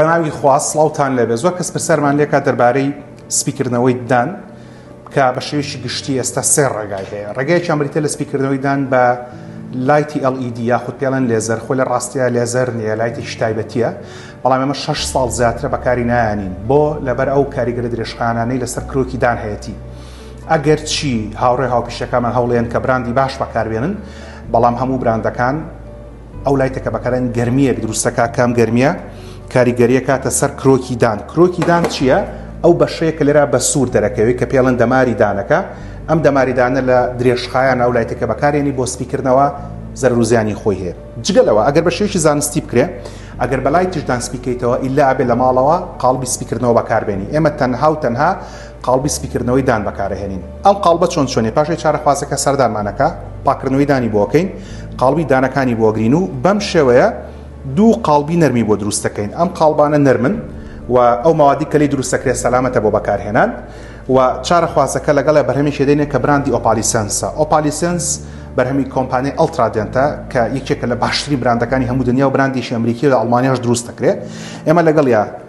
بەناوی خوا سڵاوتان لێبێ زۆر کەس پرسیارمان لێکات دەربارەی سپیکردنەوەی ددان کە بە شێوەیەکی گشتی ئێستا سێ ڕێگای هەیە ڕێگایەکیان بریتە لە سپیکردنەوەی دان بە لایتی LED یاخود پێڵەن لێزەر خۆ لە ڕاستیە لێزەر نیە لایتی شتایبەتیە بەڵام ئەمە 6 ساڵ زیاترە بەکاری نایانین بۆ لەبەر ئەو کاریگەرە درێژخانانەی لەسەر کرۆکی دان هەیەتی ئەگەر چی هاوڕێ هاوپیشەکەمان هەوڵێن کە براندی باش بەکاربێنن بەڵام هەموو براندەکان ئەو لایتەکە بەکارن گەرمیەک دروستەکە کام گەرمیە کاریگەریە کاتە سەر کرۆکی دان کرۆکی دان چییە؟ ئەو بەشەیە کە لێرا بە سوور دەرەکەوێت کە پێڵەن دەماری دانەکە ئەم دەماریدانە لە درێژخایان ئەو لایتەکە بەکارێنی بۆ سپیکردنەوە زەرروزیانی خۆی هەیە جگەلەوە ئەگەر بە شێکی زانستی بکرێ ئەگەر بەلای تشدان سپیکەیتەوە ئیلا ئەبێ لە ماڵەوە قاڵبی سپیکردنەوە بەکاربێنی ئێمە تەنها و تەنها قاڵبی سپیکردنەوەی دان بەکارئەهێنین ئەم قاڵبە چۆن چۆنیە پاشئ چارەخوازەکە سەردانمان ئەکا پاککردنەوەی دانی بۆ ئەکەین قاڵبی دانەکانی بۆ ئەگرین و بەم شێوەیە دوو قاڵبی نەرمی بۆ دروست ئەکەین ئەم قاڵبانە نەرمن و ئەو مەوادی کە لێی دروست ئەکرێت سەلامەتە بۆ بەکارهێنان و چارەخوازەکە لەگەڵێ بەرهەمێکی دێنێ کە براندی ئۆپالیسنسە ئۆپالیسنس بەرهەمی کۆمپانیای ئەڵترادێنتە کە یەکێکە لە باشترین براندەکانی هەموو دنیا و براندێکی ئەمریکی لە ئەڵمانیاش دروست دەکرێت ئێمە لەگەڵیا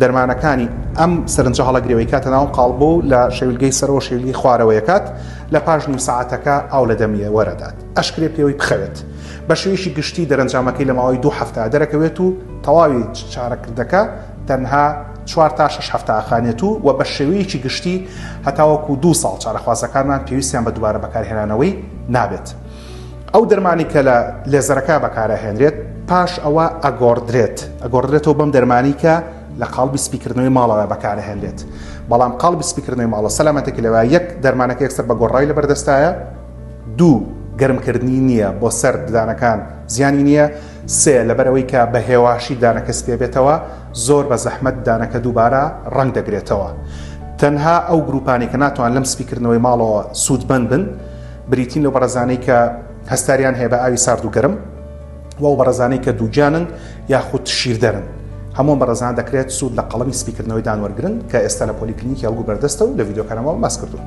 دەرمانەکانی ئەم سەرنجە هەڵەگرەوەی کاتە ناو قاڵبۆ و لە شەویلگەی سەرەوە شەویلگەی خوارەوەیەکات لە پاش نیو سەعاتەکە ئاو لە دەمیە وەرەدات ئەشکرێ پێوەی بخەوێت بە شێویشی گشتی دەرەنجامەکەی لە ماوەی دوو هەفتە دەرەکەوێت و تەواوی چارەکردەکە تەنها چوار تا شش هەفتە ئاخانێت و و بە شێوەیەکی گشتی هەتاوەکو دوو ساڵ چارەخوازەکانمان پێویستیان بە دووبارە بەکارهێنانەوەی نابێت. ئەو دەرمانی کە لە لێزەرەکە بەکارەهێنرێت پاش ئەوە ئەگۆڕدرێت ئەگۆڕدرێتەوە بەم دەرمانی کە لە قاڵبی سپیکردنەوەی ماڵەوە بەکارەهێنرێت بەڵام قاڵبی سپیکردنەوەی ماڵە سەلامەتێکی لەوە یەک دەرمانەکە یەکسەر بە گۆڕای لە بەردەستایە دوو گەرمکردنی نییە بۆ سەر ددانەکان زیانی نییە سێ لەبەرەوەی کە بە هێواشی دانەکە سپێ بێتەوە زۆر بە زەحمەت دانەکە دووبارە ڕنگ دەگرێتەوە تەنها ئەو گروپانی کە ناتوان لەم سپیکردنەوەی ماڵەوە سوودمەند بن بریتین لەو بەڕێزانەی کە هەستاریان هەیە بە ئاوی سارد و گەرم و ئەو بەڕێزانەی کە دووگیانن یاخود شیردەرن هەموو بەڕێزان دەکرێت سوود لە قەڵەمی سپیکردنەوەی دانوەرگرن کە ئێستا لە پۆلیکلینیکی هەڵگو بەردەستە و لە ڤیددیوکانەوە باس کردوون.